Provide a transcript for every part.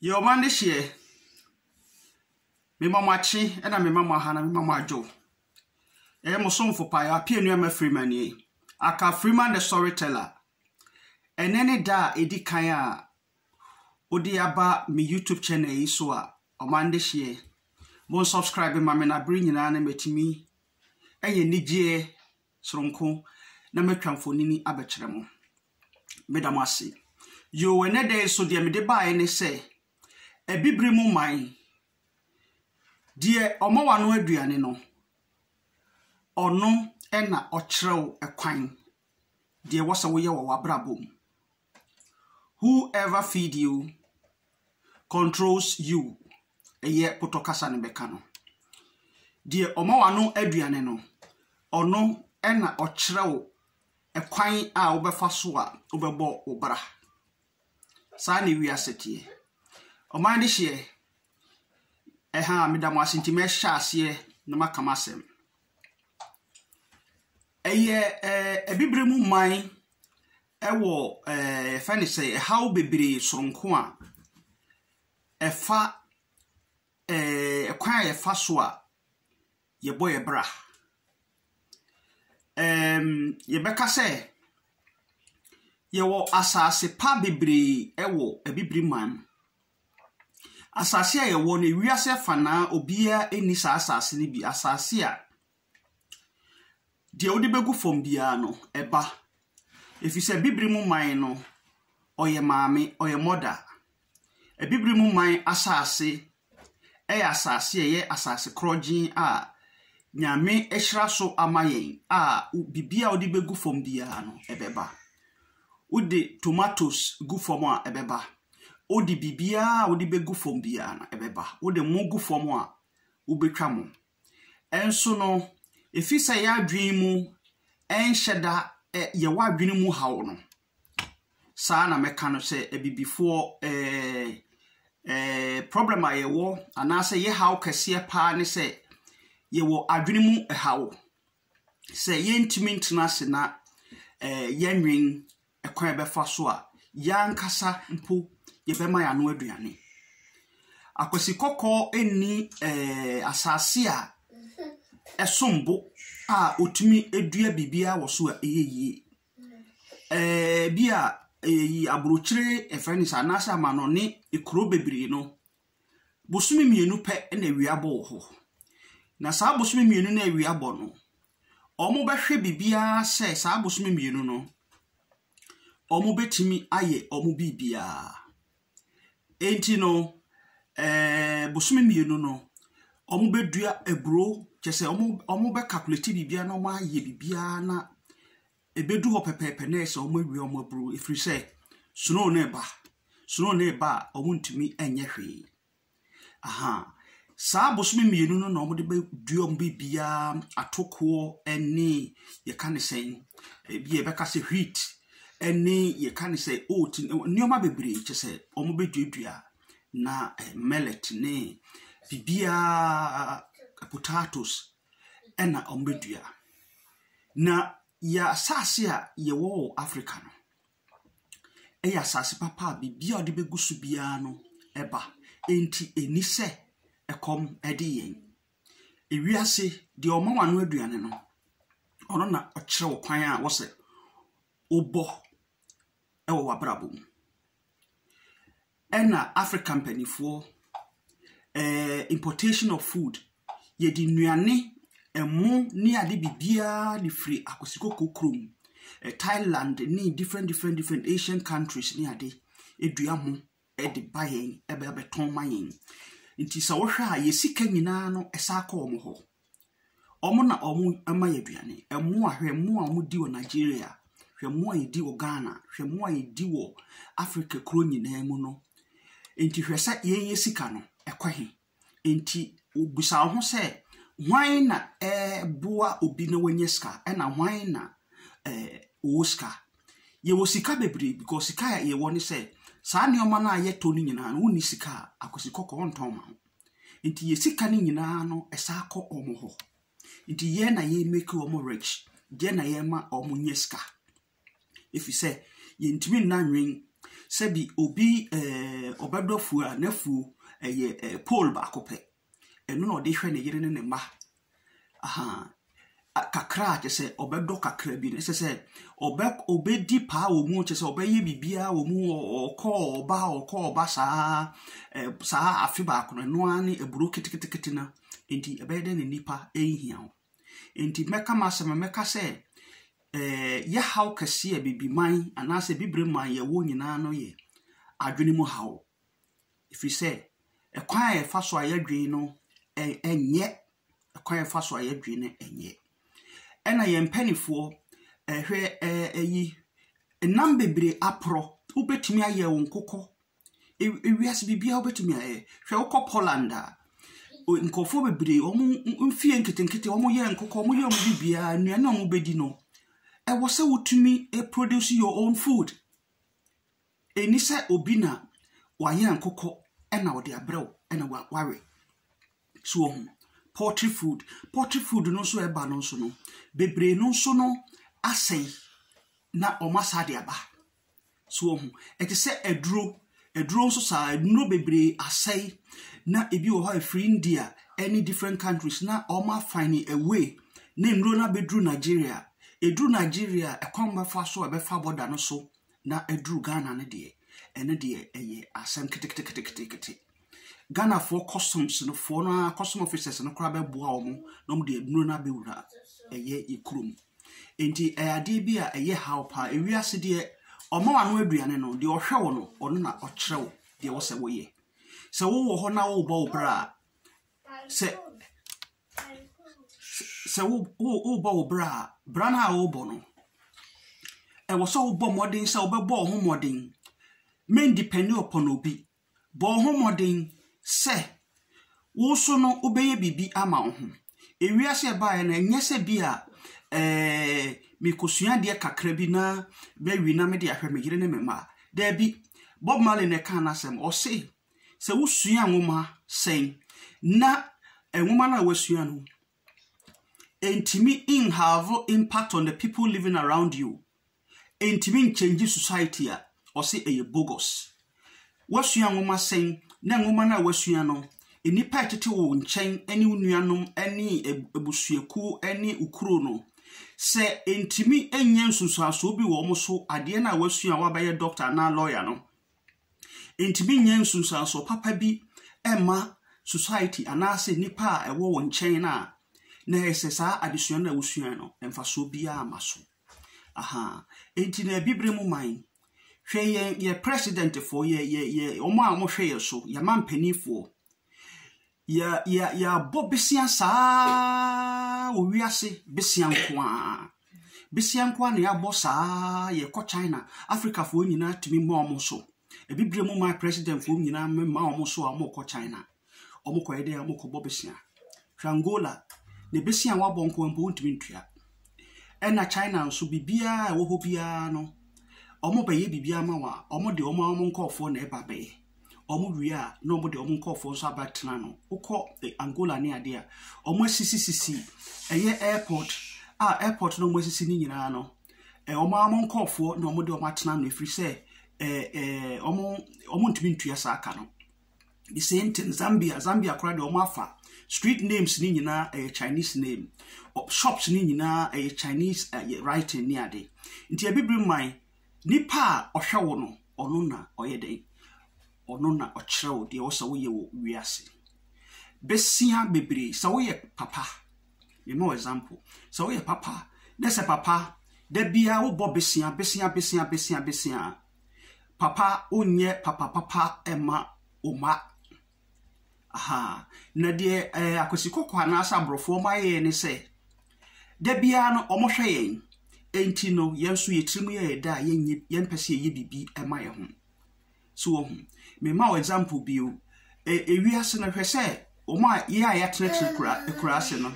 Yɛ ɔman no hyeɛ. Mema mo akye na mema mo aha na mema mo adwo. Ɛyɛ mo somfo paa, Appiah Nuamah Freeman nie, aka Freeman the Storyteller. Ɛnɛ ne da a ɛdi kan a wode aba me YouTube channel yi so a ɔman no hyeɛ. Mo nsubscribe ma me na bere nyinaa no matumi anya anigyeɛ soronko na matwa mfonini abɛkyerɛ mo. Meda mo ase. Yoo, ɛnnɛ da yi nso deɛ mede baeɛ ne sɛ, Abibire mu man, deɛ ɔma w'ano aduane no, ɔno na ɔkyerɛ wo kwan deɛ ɛwɔ sɛ woyɛ wɔ w'abrabɔ mu. Whoever feed you controls you. yɛ potɔ kasa no bɛka no. Deɛ ɔma w'ano aduane no, ɔno na ɔkyerɛ wo ɛkwan a wobɛfa so a wobɛbɔ wo bra. Saa na wiase teɛ. Ɔman de hyeɛ, ɛha meda mo ase nti mɛhyɛ aseɛ na maka m'asɛm. Ɛyɛ ɛɛ abibire mu man ɛwɔ ɛɛ yɛfɛ no sɛ ɛhaw bebree soronko a ɛfa ɛɛ kwan a yɛfa so a yɛbɔ yɛn bra. Ɛɛm yɛbɛka sɛ yɛwɔ asase pa bebree wɔ Abibiri man mu. Asase a yɛwɔ no, wiase afanan obiara nni saa asase no bi. Asase a. Deɛ wode bɛgu fam biara no, ɛba. Ɛfiri sɛ Abibire mu man no, ɔyɛ maame, ɔyɛ mother. Abibire mu man asase yɛ asase a ɛyɛ asase korɔgyenn a Nyame ahyira so ama yɛn a biribiara a wode bɛgu fam biara no, ɛbɛba. Wode tomatoes gu fam a, ɛbɛba. Wode biribiara a wode bɛgu fam biara no, ɛbɛba. Wode ngo gu fam a, wobɛtwa ngo. Nso no, efisɛ yɛn adwene mu nhyɛ da ɛ yɛ w'adwene mu haw no, saa na mɛka no sɛ abibifoɔ ɛɛ ɛɛ problem a yɛwɔ anaasɛ yɛ haw kɛseɛ paa ne sɛ yɛwɔ adwene mu haw. sɛ yɛntumi ntena ase na yɛnnwen kwan a yɛbɛfa so a yɛn ankasa mpo yɛbɛma yɛn ano aduane. Akwasi kɔkɔɔ nni asase a ɛsom bo a ɔtumi dua biribiara wɔ so a ɛyɛ yie. Ɛɛ ebi a aburokyire, yɛfrɛ no saa, anaasɛ amanɔne, kuro bebree no, Bosome mmienu pɛ na awia bɔ wɔ hɔ. Na saa bosome mmienu no a awia bɔ no, wɔbɛhwɛ biribiara sɛ saa bosome mmienu no, wɔbɛtumi ayɛ wɔn biribiara. Enti no, ɛɛ bosome mmienu no, wɔbɛdua aburoo, kyerɛ sɛ wɔbɛkakulati biribiara na wɔayɛ biribiara na Ɛbɛdu hɔ pɛpɛɛpɛ na ayɛ sɛ wɔawia wɔn aburoo ɛfiri sɛ snow no reba. Snow no reba a wɔntumi nyɛ hwee. Aha. Saa bosome mmienu no na wɔde bɛdua wɔn biribiara, atokoɔ ne yɛka no sɛn, ebia yɛbɛka sɛ wheat ne yɛka no sɛ oat, nneɛma bebree kyɛ sɛ wɔbɛduadua na millet ne biribiara potatoes na wɔbɛdua. Na yɛn asase a yɛwɔ wɔ Africa no, yɛ asase papa a biribiara a wɔde bɛgu so biara no ba. Enti ɛnni sɛ ɛkɔm de yɛn. Ewiase, deɛ ɔma w'ano aduane no, ɔno na ɔkyerɛ wo kwan a wɔsɛ wobɔ wɔ w'abrabɔ mu. Ɛna Africa mpaninfoɔ eh, importation of food yɛde nnuane ɛmo ne ade biribiara de firi akosikoko kurom eh, Thailand ne different different different Asian countries ne ade edua ho ɛde ba yɛn ɛbɛ abɛtɔn ma yɛn nti sɛ wohwɛ a yɛ sika nyinaa no ɛsa akɔ wɔn hɔ. Wɔn na wɔma yɛn aduane. Mmoa, hwɛ mmoa a wɔdi wɔ Nigeria, hwɛ mmoa a yɛdi wɔ Ghana, hwɛ mmoa a yɛdi wɔ Africa kuro nyinaa mu no. Enti hwɛ sɛ yɛn yɛn sika no ɛkɔ he. Enti bisa wo ho sɛ, hwan na ɛboa obi na wanya sika ɛna hwan na eh, ɔwɔ sika. Yɛwɔ sika bebree because sika a yɛwɔ ne sɛ saa nneɛma no a yɛtɔ no nyinaa no wonni sika a akwasi kɔkɔɔ ntɔn ma wo. Nti yɛ sika no nyinaa no ɛsan kɔ wɔn hɔ. Nti yɛn na yɛ make wɔn rich, yɛn na yɛma wɔn nya sika. Ɛfiri sɛ yɛntumi nna nnwen sɛ bi obi ɛɛ ɔbɛdɔ afuo a n'afuo ɛyɛ pole baako pɛ. Ɛno na ɔde hwɛ ne yere ne ne mma Ahaa. Kakra a, kyerɛ sɛ ɔbɛdɔ kakra bi no, ɛsɛ sɛ ɔbɛ ɔbɛdi paa wɔ mu, kyerɛ sɛ ɔbɛyɛ biribiara wɔ mu, ɔkɔ ɔba ɔkɔ ɔba saa saa afe baako no, ɛno ara ne aburo ketekete no. Enti ɛbɛyɛ dɛ ne nipa ɛnhia wo. Enti mɛka m'asɛm a mɛka sɛ ɛɛ yɛhaw kɛseɛ a bibiman anaasɛ bibire man yɛwɔ nyinaa no yɛ adwene mu haw. ɛfiri sɛ ɛkwan a yɛfa so a yɛdwene no nyɛ ɛkwan a yɛfa so a yɛdwene no nyɛ. Ɛna yɛn mpaninfoɔ ɛhwɛ ɛɛ ɛyi nam bebree aporɔ wobɛtumi ayɛ wo nkokɔ ewiase biribiara wobɛtumi ayɛ hwɛ wokɔ Poland a nkorɔfoɔ bebree wɔn mfeɛ nketenkete wɔyɛ nkokɔ wɔyɛ wɔn biribiara nnuane a wɔbɛdi no ɛwɔ sɛ wotumi produce your own food. Ɛnni sɛ obi na wayɛ nkokɔ na ɔde abrɛ wo na wawe. So woahu? Poultry food. Poultry food no nso a ɛba no nso no, bebree no nso no asɛe na wɔasan de aba. So woahu? Ɛte sɛ aduro. Aduro nso saa ara, nnuro bebree asɛe na ebi wɔ hɔ a ɛfiri India ne different countries na wɔma find a way na nnuro no abɛduru Nigeria. Ɛduru Nigeria a, ɛkwan bɛfa so a ɛbɛfa bɔda no so na aduru Ghana no deɛ, ɛno deɛ ɛyɛ asɛm keteketeketekete. Ghanafoɔ customs no foɔ no ara custom officers no koraa bɛboa wɔn na wɔde aduro no abɛwura ɛyɛ yɛ kurom. Nti ɛyɛ adeɛ bi a ɛyɛ haw paa. Ewiase deɛ ɔma wano aduane no, deɛ ɔhwɛ wo no, ɔno na ɔkyerɛ wo deɛ wɔ sɛ woyɛ. Sɛ wowɔ hɔ na wobɔ wo bra a, sɛ sɛ wo wo worebɔ wo bra a, bra no a worebɔ no, ɛwɔ sɛ wobɔ mmɔden sɛ wobɛbɔ wo ho mmɔden. Mɛndipɛnde ɔpɔn obi. Bɔ wo ho mmɔden sɛ wo nso no wobɛyɛ biribi ama wo ho. Ewiase a ɛbaeɛ no, ɛnyɛ sɛ bi a ɛɛɛ mekɔsua adeɛ kakra bi na mawie na mede ahwɛ me yere ne me mma. Dabi, Bob Marley na ɛkaa no asɛm. Ɔse Sɛ wosua nwoma sɛn na nwoma no a woasua no ntumi nhave impact on the people living around you, ntumi nkyɛngye society a, ɔse ɛyɛ bogus. Woasua nwoma sɛn na nwoma no a woasua no nnipa a ɛtete wo nkyɛn ne wo nuanom ne abusuakuo ne wo kuro no, sɛ ntumi nyɛ nsunsuansoɔ bi wɔ wɔn so adeɛ no a woasua a woabɛyɛ doctor anaa lawyer no, Entumi nyɛ nsunsuansoɔ papa bi mma society anaasɛ nnipa a ɛwɔ wo nkyɛn no a na ɛyɛ sɛ saa adesua no a wosuae no mfasoɔ biara mma so. Ahaa, enti na Abibirem man, hwɛ yɛn, yɛn presidentfoɔ, yɛn, yɛn, yɛn, wɔn a wɔhwɛ yɛn so, yɛn mampaninfoɔ, Yɛ, yɛ, yɛabɔ besia saa ara wɔ wiase, besia nko ara. Besia nko ara na yɛabɔ saa ara, yɛkɔ China, Afrikafoɔ nyinaa tumi ma wɔn so. Abibire mu my presidentfoɔ nyinaa mema wɔn so a wɔkɔ China. Wɔkɔyɛ dɛ wɔkɔbɔ besia. Hwɛ Angola, ne besia a wɔabɔ nko ara mpo wontumi ntua. Ɛna China nso, biribiara a ɛwɔ hɔ biara no, wɔbɛyɛ biribiara ama wɔn a, wɔde wɔn ara wɔn nkurɔfoɔ na ɛba bɛyɛ. wɔwie a na wɔde wɔn nkurɔfoɔ nso abɛtena ano. Wokɔ eh, Angola ne adeɛ a, wɔasisisisi ɛyɛ airport a airport na wɔasisi ne nyinaa no, eh, wɔn ara wɔn nkurɔfoɔ na wɔde wɔn atena ano ɛfiri sɛ eh, eh, wɔn wɔntumi ntua saa ka no. The same thing Zambia, Zambia koraa deɛ wɔn afa street names ne nyinaa ɛyɛ Chinese name, Ɔ- shops ne nyinaa ɛyɛ Chinese ɛyɛ writing ne ade. Nti abibiri man Nipa a ɔhwɛ wo no, ɔno na ɔyɛ dɛn? Ɔno na ɔkyerɛ wo deɛ ɛwɔ sɛ woyɛ wɔ wiase. Bɛsia bebree, sɛ woyɛ papa, mema wo example, sɛ woyɛ papa na sɛ papa da biara wobɔ bɛsia, bɛsia, bɛsia, bɛsia, bɛsia a, papa wonyɛ papa papa mma wo mma. Ahaa. Na deɛ ɛɛ akwasikɔkɔɔ anaasɛ aborɔfoɔ wɔn ayɛ ne sɛ, da biara no wɔhwɛ yɛn. Enti no yɛn nso yɛn tirim yɛ yɛn dɛ a yɛnyɛ yɛmpɛ sɛ yɛyɛ biribi ma yɛn ho. So wahu? Mema wo example bi o. Ɛ ewiase no hwɛ sɛ wɔn a yɛn a yɛatenatena akura akuraase no,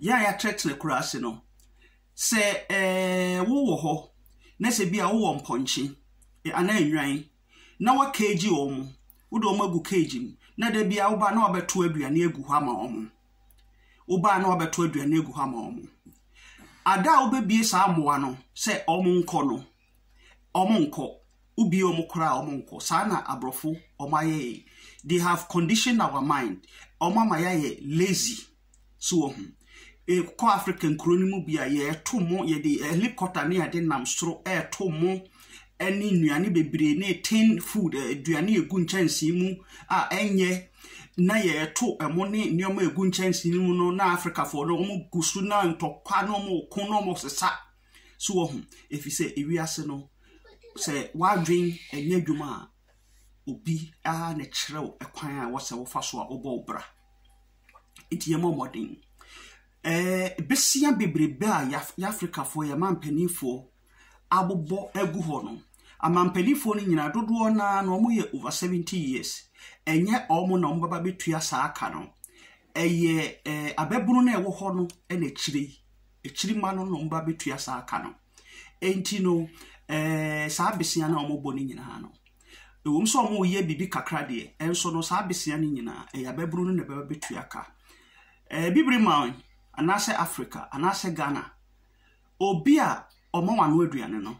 yɛn a yɛatenatena akuraase no, sɛ ɛɛ wowɔ hɔ na sɛ bi a wowɔ mpɔnkye anaa nnwan, na woakeegye wɔn, wode wɔn agu keegye mu, na da biara woba na wabɛto aduane agu hɔ ama wɔn. Woba na wabɛto aduane agu hɔ ama wɔn. Ada a wobɛbie saa mmoa no sɛ wɔn nkɔ no, wɔn nkɔ. Wobie wɔn koraa wɔn nkɔ. Saa na aborɔfo wɔn ayɛ yɛn. They have conditioned our mind. Wɔn ama yɛayɛ lazy. So wahu? Kɔ Africa nkuro no mu bi a, yɛto mo, yɛde helicopter ne ade nam soro reto mo ne nnuane bebree ne tin food, aduane a ɛgu nkyɛnsee mu a ɛnyɛ, na yɛto ɛmo ne nneɛma a ɛgu nkyɛnsee no mu no na Africafoɔ no wɔgu so na ntɔkwa na wɔko na wɔsesa. So wɔhu, ɛfiri sɛ ewiase no, sɛ w'adwene ɛnyɛ adwuma a, obi ara na ɛkyerɛ wo ɛkwan a ɛwɔ sɛ wofa so a wobɔ wo bra. Nti yɛmmɔ mmɔden. Ɛɛ besia bebrebe a yɛaf Afrikafoɔ, yɛn mampaninfoɔ abobɔ agu hɔ no, amampaninfoɔ no nyinaa, dodoɔ no ara no, wɔyɛ over 70 years. Ɛnyɛ wɔn na wɔbɛba abɛtua saa ka no. Ɛyɛ ɛɛ ababunu no a ɛwɔ hɔ no na akyire yi akyiri mma no nom ba bɛtua saa ka no. Enti no, eh, saa besia no a wɔbɔ no nyinaa no, ɛwom sɛ wɔyɛ biribi kakra deɛ, ɛnso no saa besia no nyinaa, ɛyɛ ababunu no na ɛbɛba bɛtua ka. Eh, bibiri man anaasɛ Africa anaasɛ Ghana, obi a ɔma wano aduane no,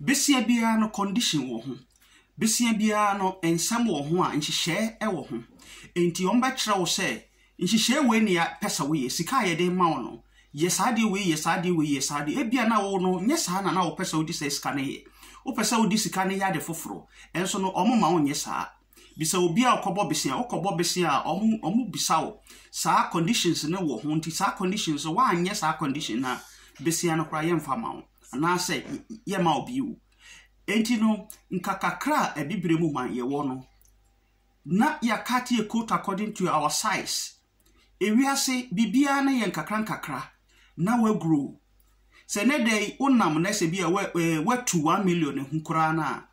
Besia biara no condition wɔ ho. Besia biara no nsɛm wɔ ho a nhyehyɛɛ wɔ ho. Enti wɔbɛkyerɛ wo sɛ nhyehyɛɛ wei na yɛpɛ sɛ woyɛ. Sika a yɛde rema wo no, yɛ saa adeɛ wei, yɛ saa adeɛ wei, yɛ saa adeɛ. Ebia na wo no, nyɛ saa na na wopɛ sɛ wode saa sika no yɛ. Wopɛ sɛ wode sika no yɛ ade foforɔ. Nso no, wɔmma wonyɛ saa. Bisa obi a ɔkɔbɔ bese a, wokɔbɔ bese a, wɔn wɔbisa wo saa conditions no wɔ ho nti saa conditions no woanyɛ saa condition no a, bese no koraa yɛmfa mma wo anaasɛ yɛmma wo bio. Enti no, nka kakra a Abibire mu man yɛwɔ no, na yɛakate yɛ coat according to our size, Ewiase biribiara no yɛ nkakrankakra na wɔagrow. Sɛ nnɛ da yi wonam na sɛ bi a woatu one million ahu koraa no a,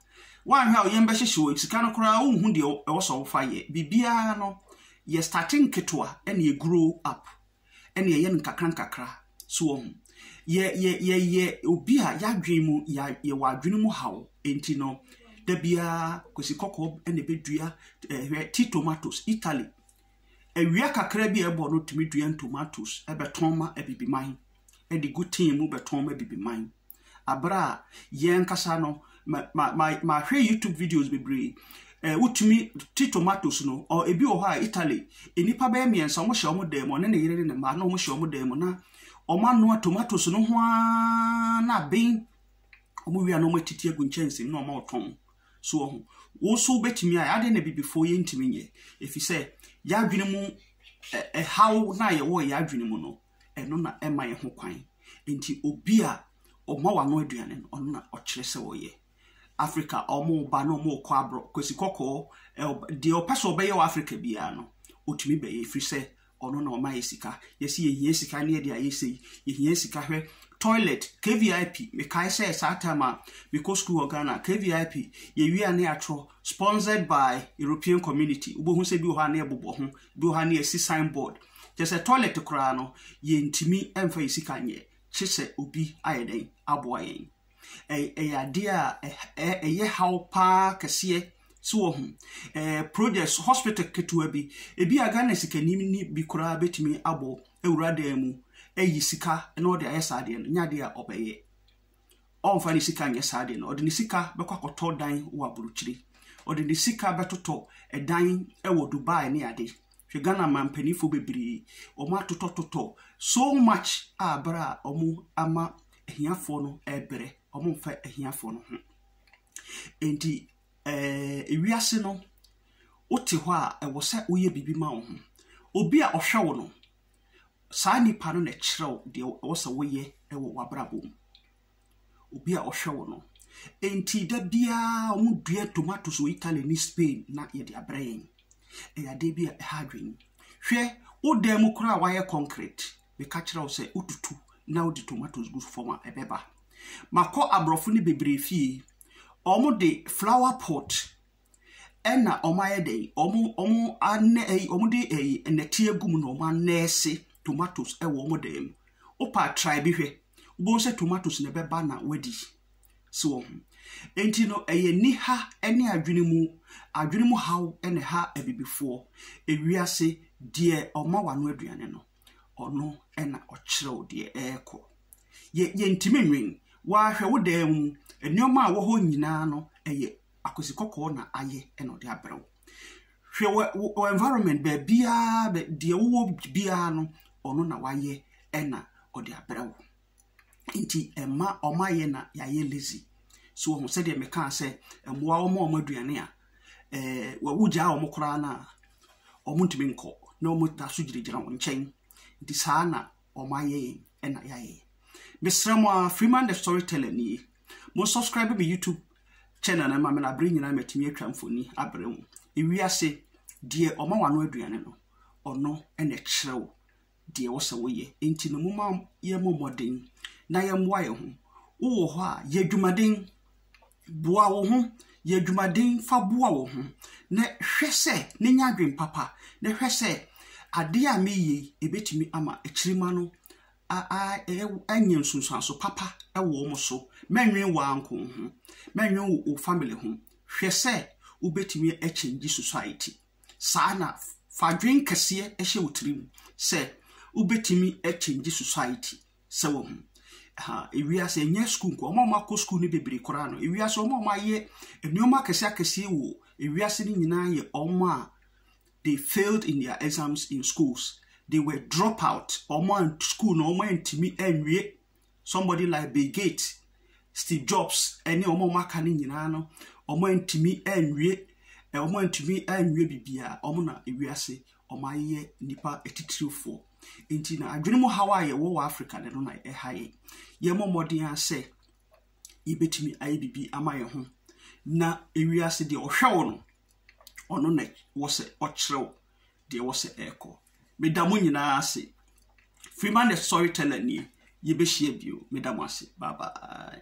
woanhwɛ a wo yam bɛhyehye wo, sika no koraa wonhu deɛ ɛwɔ sɛ wofa yɛ. Biribiara no yɛ starte nketewa na ɛgrow up na ɛyɛ no nkakrankakra. So wɔhu? Yɛ yɛ yɛyɛ obi a yɛadwene mu yɛ yɛwɔ adwene mu haw nti no, da biara kwasi kɔkɔɔ na ɛbɛdua ɛhwɛ tea tomatoes Italy. Awia kakra bi a ɛbɔ no tumi dua ntomatoes bɛtɔn ma Abibiman de gu tin mu bɛtɔn ma Abibiman. Abere a yɛn ankasa no, ma, ma, ma, mahwɛ YouTube videos bebree. Eh, wotumi ti tomatoes no, or ebi wɔ hɔ a Italy, nnipa bɛyɛ mmiɛnsa, wɔn hyɛ wɔn dan mu, ɔne ne yere ne ne mma, na wɔn hyɛ wɔn dan mu, na wɔn anoa tomatoes no ho ara na aben, wɔn wia no wɔn atiti agu nkyɛnsee mu na wɔn a wɔtɔn. So wahu? Wo nso wobɛtumi ayɛ. Adɛn na abibifoɔ yɛntumi nyɛ? Ɛfiri sɛ yɛn adwene mu ɛhaw no a yɛwɔ yɛn adwene mu no, ɛno na ɛma yɛn ho kwan. Nti obi a ɔma w'ano aduane no, ɔno na ɔkyerɛ sɛ ɔyɛ. Africa wɔba na wɔkɔ aborɔ, kwasi kɔkɔɔ, deɛ ɔpɛ sɛ ɔbɛyɛ wɔ Africa biara no, ɔtumi bɛyɛ ɛfiri sɛ ɔno na ɔma yɛ sika. Yɛse yɛhia sika ne yɛde ayɛ sei, yɛhia sika hwɛ toilet, kvip, mekae sɛ saa time a mekɔ sukuu wɔ Ghana, kvip, yɛwie a ne yɛatorɔ, sponsored by European community, wobɛhu sɛ bi wɔ hɔ a ne yɛbobɔ ho, bi wɔ hɔ a ne yɛasi sign board. Kyɛ sɛ toilet koraa no, yɛntumi mfa yɛ sika nyɛ, kye sɛ obi ayɛ dɛn, aboa yɛn. ɛyɛ adeɛ a ɛyɛ haw pa ara kɛseɛ. So wahu? Ɛɛ projects, hospital ketewa bi, ebi a Ghana sikani ni bi koraa bɛtumi abɔ awura dan mu ayi sika na ɔde ayɛ saa adeɛ no, nyɛ adeɛ a ɔbɛyɛ. Ɔmfa ne sika nyɛ saa adeɛ no, ɔde ne sika bɛkɔ akɔtɔ dan wɔ aburokyire. Ɔde ne sika bɛtotɔ dan wɔ Dubai ne ade. Hwɛ Ghana mampaninfoɔ bebree, wɔatotɔtotɔ so much a berɛ a wɔama ahiafoɔ no rebrɛ, wɔmfa ahiafoɔ no ho. Enti ɛɛ wiase no, wote hɔ a, ɛwɔ sɛ woyɛ biribi ma wo ho. Obi a ɔhwɛ wo no, saa nipa no na ɛkyerɛ wo deɛ ɛwɔ sɛ woyɛ wɔ w'abrabɔ mu. Obi a ɔhwɛ wo no. Enti da biara wɔdua tomatoes wɔ Italy ne Spain na yɛde abrɛ yɛn. Ɛyɛ adeɛ bi a ɛha adwene. Hwɛ, wo dan mu koraa a wɔayɛ concrete, meka kyerɛ wo sɛ wotutu na wode tomatoes gu fam a ɛbɛba makɔ aborɔfo no bebree fie wɔn de flower pot ɛna wɔn ayɛ dɛ wɔn wɔn anɛ ɛyi wɔn de ɛyi nnɛteɛ gu mu na wɔn anɛɛse tomatoes ɛwɔ wɔn dan mu wopa try bi hwɛ wobɛhu sɛ tomatoes na ɛbɛba na wadi si wɔn ho nti no ɛyɛ niha ɛne adwene mu adwene mu haw ɛna ɛha abibifoɔ ewiase deɛ ɔma wano aduane no. Ɔno na ɔkyerɛw deɛ ɛrekɔ. Yɛ yɛntumi nnwen. Woahwɛ wo dan mu, nneɛma a ɛwɔ hɔ nyinaa no, ɛyɛ akosikɔkɔɔ na ayɛ na ɔde abrɛ wo. Hwɛ wɔ wo wɔ environment baabiara bɛ deɛ wowɔ biara no, ɔno na wayɛ na ɔde abrɛ wo. nti ɛma wɔayɛ na yɛayɛ lazy. So wɔn sɛdeɛ mekaa sɛ mmoa wɔn a wɔn aduane a ɛɛ wogyaa wɔn koraa no a wɔntumi nkɔ na wɔda so gyinagyina wɔn nkyɛn nti saa na wɔayɛ yɛn na yɛayɛ. Mesrɛ mo a Freeman the Storyteller nie. Mo subscribe me YouTube channel no ma me na bere nyinaa matumi atwa mfoni abrɛ mu. Ewiase deɛ ɔma wano aduane no ɔno na ɛkyerɛ wo deɛ ɛwɔ sɛ woyɛ. Enti no momma yɛmmɔ mmɔden na yɛmmoa yɛn ho. Wowɔ hɔ a, yɛ adwumaden. Boa wo ho. Yɛ adwumaden fa boa wo ho, na hwɛ sɛ, na nya adwene papa, na hwɛ sɛ adeɛ a mereyɛ yi, ɛbɛtumi ama akyirima no anya nsunsuanso papa wɔ wɔn so. Mɛnwene wo ara nko ho. Mɛnwene wo family ho. Hwɛ sɛ wobɛtumi akyɛngye society. Saa na fa adwene kɛseɛ hyɛ wo tirim sɛ wobɛtumi akyɛngye society sɛ wahu. Ha, ewiase ɛnyɛ sukuu nko, wɔn a wɔakɔ sukuu no bebree koraa no, ewiase wɔn a wɔayɛ nneɛma akɛseɛ akɛseɛ wɔ ewiase no nyinaa yɛ wɔn a they failed in their exams in schools. They were drop out, wɔn a sukuu no wɔantumi anwie Somebody like Bill Gates, Steve Jobs, ɛne wɔn a wɔaka no nyinaa no, wɔantumi anwie, eh, wɔantumi anwie biribiara. Wɔn na ewiase wɔayɛ nnipa atitirifoɔ. Nti na adwene mu haw a yɛwɔ wɔ Africa no na ɛha yɛn. Yɛmmɔ mmɔden ara sɛ yɛbɛtumi ayɛ biribi ama yɛn ho na ewiase deɛ ɔhwɛ wo no, ɔno na wɔ sɛ ɔkyerɛ wo deɛ ɛwɔ sɛ ɛrekɔ. Meda mo nyinaa ase. Freeman the Storyteller nie. Yɛbɛhyia bio. Meda mo ase. Bye bye.